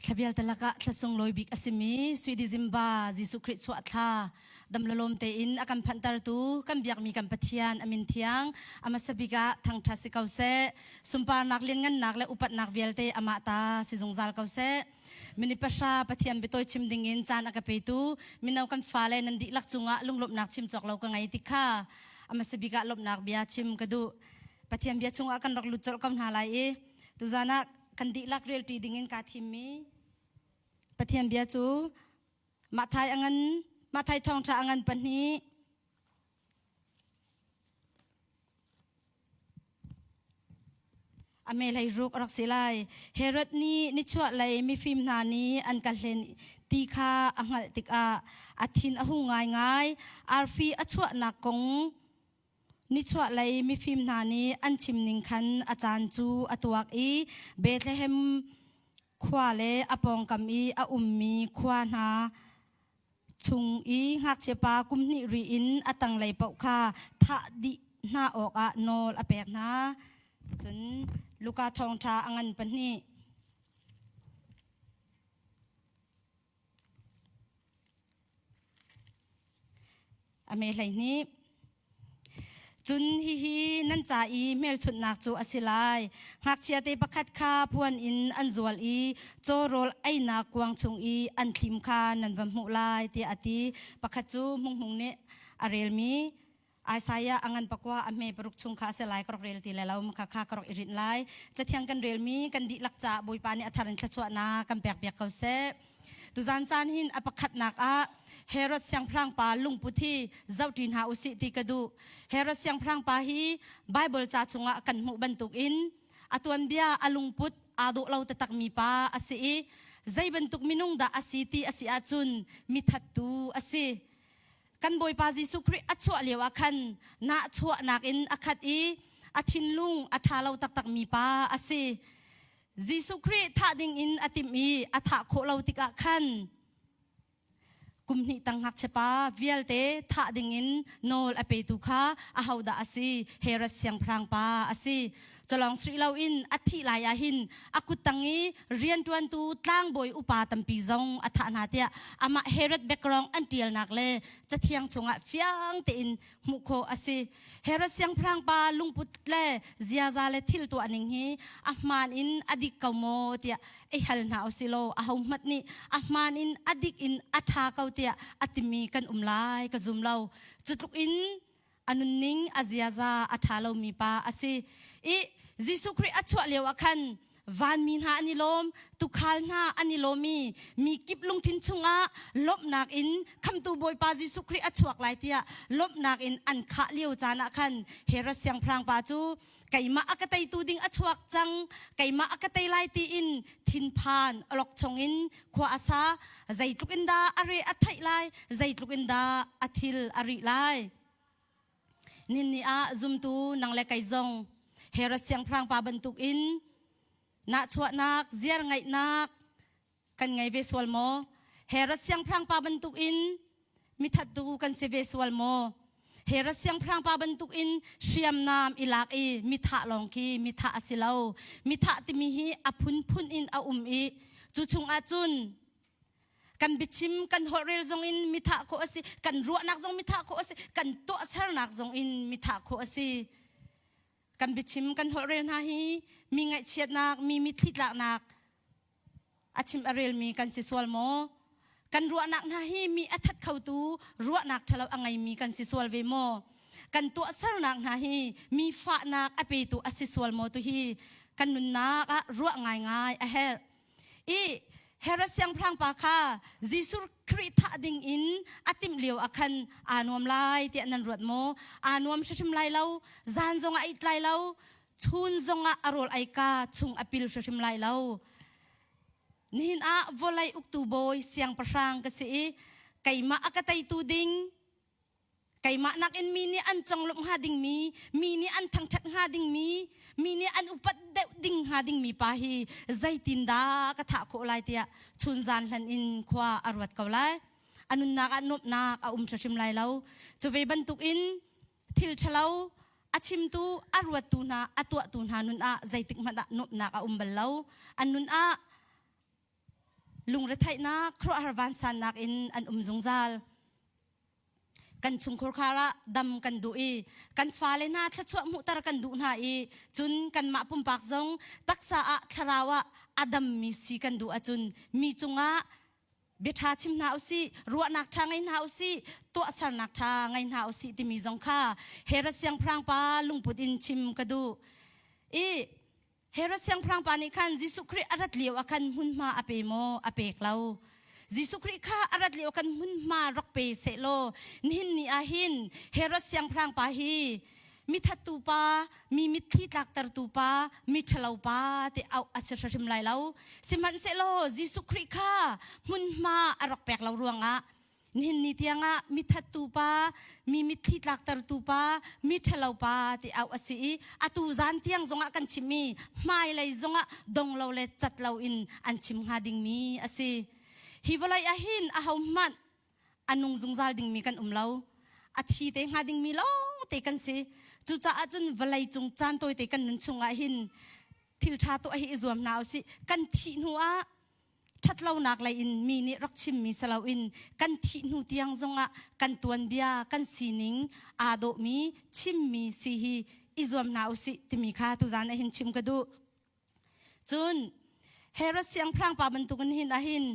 Thlabial te lakah thlasung lawi bik a simi Swedi Zimba Jesuh Khrih chuah thla damlalawm tein a kan phanhtertu kan biakmi kan Pathian a min thiang a hmasa bik ah thangṭhat si ko seh. Sunparnak lianngannak le upatnak vialte amah ta si zungzal ko seh. Mini pahra Pathian biatawi chim ding in caan a ka petu mino kan fale nan dihlak cungah lunglawmhnak chim cawk lo ka ngei ti kha amasa bik ah lawmhnak bia chim ka duh. Pathian bia chungah kan rak lut colh ko hna lai i tuzan ah kan dihlak relṭi ding in kaa thimmi Pathian bia cu Mathai angan Mathai thawngṭha angan pahnih a melei ruk a rak si lai herod nih nichuah lei mifim hna nih an ka hlen ti kha a hngalh tikah a thin a hung ngaingai arfi a chuahnak kong nichuah lei mifim hna nih an chim ning khan a caan cu a tuak i Bethlehem khua le a pawngkam i a ummi khua hna chung i ngakchiapa kum hnih ri in a tanglei paoh kha thah dih hna awkah nawl a pek hna. Cun Luka thawngṭha a ngan pahnih. A me hleihnih. Cun hihi nan ca i hmelchunhnak cu a si lai: ngakchia te pakhat kha phuan in an zual i caw rawl einak kuang chung i an thlim kha nan va hmuh lai, tiah a ti. Pakhat cu Hmunghmung nih a relmi Isaiah a ngan pakua a hme paruk chung kha a si lai, ka rak rel ti lai lo, khakha ka rak i rinh lai. Cathiang kan relmi kan dihlak caah Bawipa nih a thar in thluachuahnak kan pekpiak ko seh. Tuzan caan hin a pakhatnak ah Herod siangpahrangpa lungput hi zohṭi hna u sih ti ka duh. Herod siangpahrangpa hi Baibal ca chungah kan hmuh bantukin a tuanbia, a lungput aa dawh lo taktakmi pa a si i zei bantuk minung dah a si ti a si ahcun mithattu a si. Kan Bawipa Jesuh Khrih a chuah lio ah khan nahchuahnak in a khat i a thinlung a ṭha lo taktakmi pa a si. Jesuh Khrih thah ding in a timh i a thah khawh lo tikah khan kum hnih tang ngakchiapa vialte thah ding in nawl a petu kha ahodah a si Herod siangpahrang pa a si culawng sri loin a thih lai ah hin a kuttang i rianṭuantu tlangbawi upa tampi zong a thah hna tiah amah Herod background an ṭialnak le cathiang chungah fiang tein hmuh khawh a si. Herod siangpahrang pa lungput le ziaza le thil tuah ning hi a hmaan in a dik ko maw tiah ei hal hna u si law a hohmanh nih a hmaan in a dik in a ṭha ko tiah a timi kan um lai ka zum lo. Cutluk in a nunning a ziaza a ṭha lomi pa a si i Jesuh Khrih a chuah lio ah khan vanmi hna an i lawm tukhal hna an i lawm i mi kip lungthin chungah lawmhnak in khamtu bawipa jesuh khrih a chuak lai tiah lawmhnak in an khah lio caan ah khan herod siangpahrang pa cu keimah a ka teitu ding a chuak cang keimah a ka tei lai tiin thinphan alok chung in khua a sa zeitluk in dah a re a theih lai zeitluk in dah a thil a ri lai Ninni ah zumtu nang le kei zong Herod siangpahrang pa bantuk in nahchuahnak ziar ngaihnak kan ngei ve sual maw? Herod siangpahrang pa bantuk in mithattu kan si ve sual maw? Herod siangpahrang pa bantuk in hriamnam i lak i mithah lawng khi mithah a si lo. Mithah timi hi a phunphun in a um i cu chung ahcun kan biachim kan holhrel zong in mithah khawh asi kan ruahnak zong mithah khawh asi kan tuahsernak zong in mithah khawh asi kan biachim kan holhrel hna hi mi ngaihchiatnak mi mitthlitlaknak a chim a relmi kan si sual maw kan ruahnak hna hi mi a that khotu ruahnak thalo a ngeimi kan si sual ve maw kan tuahsernak hna hi mi fahnak a petu a si sual maw tu hi kan nunnak ah ruah ngai ngai a herh i Herod siangpahrang pa kha Jesuh Khrih thah ding in a timh lio ah khan aa nuam lai tiah nan ruat maw? Aa nuam hrimhrim lai lo, zan zong ah a it lai lo, chun zong ah a rawl eika chung a pil hrimhrim lai lo. Nihin ah vawlei uktu bawi siangpahrang ka si i keimah a ka teitu ding keimah nakin mi nih an conglawmh hnga dingmi mi nih an thangṭhat hnga dingmi mi nih an upat deuh ding hnga dingmi pa hi zeitindah ka thah khawh lai tiah chun zan hlan in khua a ruat ko lai a nunnak ah nuamhnak a um hrim lai lo cu ve bantukin thil ṭhalo a chimtu a ruattu hna a tuahtu hna nun ah zeitik hmanh ah nuamhnak a um bal lo an nun ah Lungretheihnak khuaruahhar vansaan nakin an um zungzal. Kan chungkhur khar ah dam kan duh i kan fale hna thluachuah hmuhter kan duh hna i cun kanmah pumpak zong taksa ah thlarau ah a dammi si kan duh ahcun mi cungah biaṭha chim hna usih ruahnak ṭha ngei hna usih tuahsernak ṭha ngei hna usih timi zong kha Herod siangpahrangpa lungput in chim ka duh i Herod siangpahrang pa nih khan Jesuh Khrih a rat lio ah khan hmunhma a pe maw? A pek lo. Jesuh Khrih kha a rat lio kan hmunhma rak pe sehlaw nihin ni ah hin Herod siangpahrang pa hi mithattu pa, mi mitthli tlaktertu pa, miṭhalo pa ti auh a si hrim lai lo. Sihmanhsehlaw Jesuh Khrih kha hmunhma a rak pek lo ruangah nihin ni tiangah mithattu pa mi mitthli tlaktertu pa mi ṭhalo pa ti au a si i atu zan tiang zongah kan chimmi hmailei zongah donglo le catlo in an chim hnga dingmi a si hi vawlei ahin ahohmanh a nung zungzal dingmi kan um lo a thi te hnga dingmi lo te kan si cucaah cun vawlei cung caan tawi te kan nun chungah hin thil ṭha tuah hi i zuam hna usih kan thih hnu ah ṭhatlonak lei in mi nih rak chimmi si loin kan thih hnu tiang zongah kan tuanbia kan sining aa dawhmi chimmi si hi i zuam hna u sih timi kha tuzan ah hin chim ka duh cun Herod siangpahrangpa bantukin hin ahin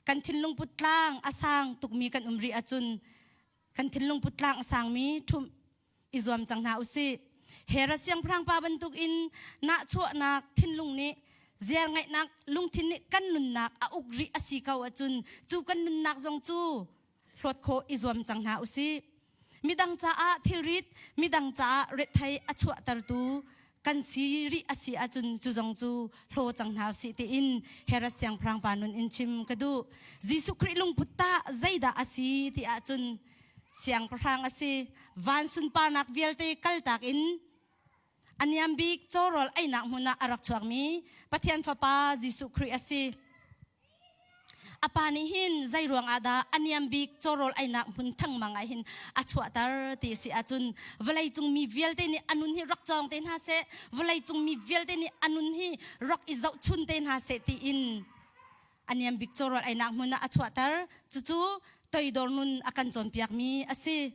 kan thinlung puttlang a sang tukmi kan um rih ahcun kan thinlung puttlang a sangmi ṭhum i zuam cang hna usih hera siangpahrang pa bantuk in nahchuahnak thinlung nih ziar ngaihnak lungthin nih kan nunnak a uk rih asi ko ahcun cu kan nunnak zong cu hlawt khawh i zuam cang hna usih midang caah thilrit midang caah rethei a chuahtertu kan si rih a si ahcun cu zong cu hlo cang hna si tiin Herods siangpahrang pa nun in chim ka duh Jesuh Khrih lungput tah zeidah a si ti ahcun siangpahrang a si van sunparnak vialte kaltak in a niam bik chawrawl einak hmun ah a rak chuakmi Pathian Fapa Jesuh Khrih a si apa nih hin zei ruang ah dah a niam bik chawrawl ainak hmun thangmang ah hin a chuahter ti si ahcun vawlei cung mi vialte nih anun hi rak cawng te hna se vawlei cung mi vialte nih anun hi rak i zoh chun te hna se ti in a niam bik chawrawl ainak hmun ah a chuahter cucu toidor nun a kan cawnpiak mi a si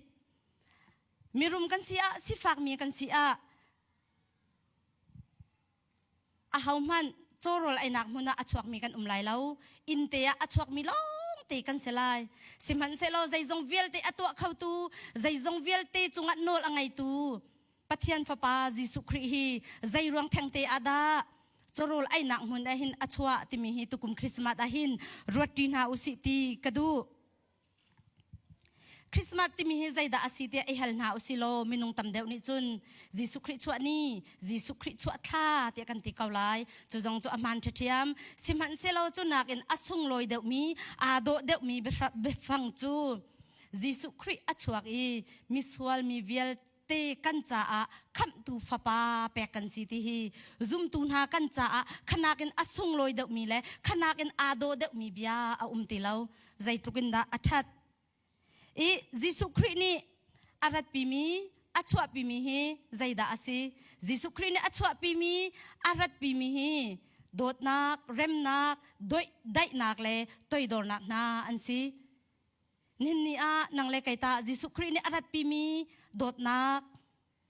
mirum kan si ah sifak mi kan si ah ahohmanh cawrawl einak hmun ah a chuakmi kan um lai lo innte ah a chuakmi lawngte kan si lai sihmanhsehlaw zeizong vialte a tuah khotu zeizong vialte cungah nawl a ngeitu pathian fapa jesuh khrih hi zeiruang thengte ah dah cawrawl einak hmun ah hin a chuah timi hi tukum christmas ah hin ruat ṭi hna u sih ti ka duh Christmas timi hi zeidah a si tiah i hal hna u si law minung tam deuh nih cun Jesuh Khrih chuah ni, Jesuh Khrih chuah thla tiah kan ti ko lai. Cu zong cu a hmaan ṭhathiam. Sihmanhsehlaw cu nakin a sunglawi deuhmi, aa dawh deuhmi biafang cu Jesuh Khrih a chuak i misual mi vialte te kan caah khamhtu fapa pek kan si ti hi zumtu hna kan caah khanak in a sunglawi deuhmi le khanak in aa daw deuhmi bia a um ti lo zeitluk in dah a ṭhat i Jesuh Khrih nih a ratpimi a chuahpimi hi zeidah a si Jesuh Khrih nih a chuahpimi a ratpimi hi dawtnak remnak daihnak le toidornak hna an si Nihin ni ah nang le kei tah Jesuh Khrih nih a ratpimi dawtnak,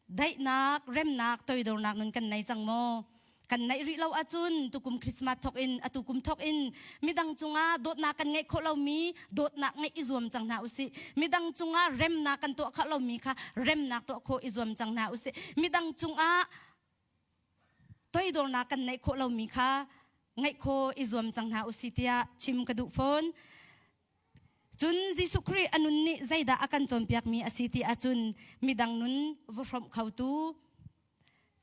daihnak, remnak, toidornak nun kan nei cang maw? Kan neih rih lo ahcun tukum Christmas thawk in a tukum thawk in midang cungah dawtnak kan ngeih khawh lomi dawtnak ngeih i zuam cang hna usih. Midang cungah remnak kan tuah khawh lomi kha remnak tuah khawh i zuam cang hna usih. Midang cungah toidornak kan neih khawh lomi kha ngeih khawh i zuam cang hna usih tiah chim ka duh fawn. Cun Jesuh Khrih a nun nih zeidah a kan cawnpiakmi a si ti ahcun midang nun va hrawmh khotu,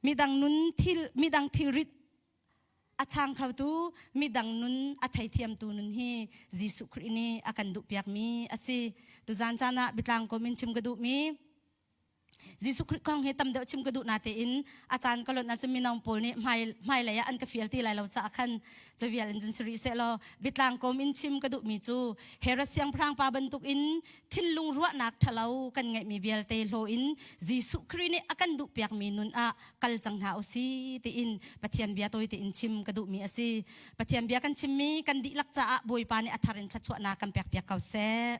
midang nun thil midang thilrit a chang khotu, midang nun a theithiamtu nun hi Jesuh Khrih nih a kan duhpiakmi a si. Tuzan caan ah Bitlang kom in chim ka duhmi Jesuh Khrih kong hi tam deuh chim ka duh na tein a caan ka lonh ahcun minong pawl nih hmai hmailei ah an ka fial ti lai lo caah khan cavial in cun si rih seh law bitlang kawm in chim ka duhmi cu Herod siangpahrang pa bantuk in thinlung ruahnak ṭhalo kan ngeihmi vialte hlaw in Jesuh Khrih nih a kan duhpiakmi nun ah kal cang hna u si tiin Pathian bia tawi tein chim ka duhmi a si Pathian bia kan chimmi kan dihlak caah Bawipa nih a thar in thluachuahnak kan pekpiak ko seh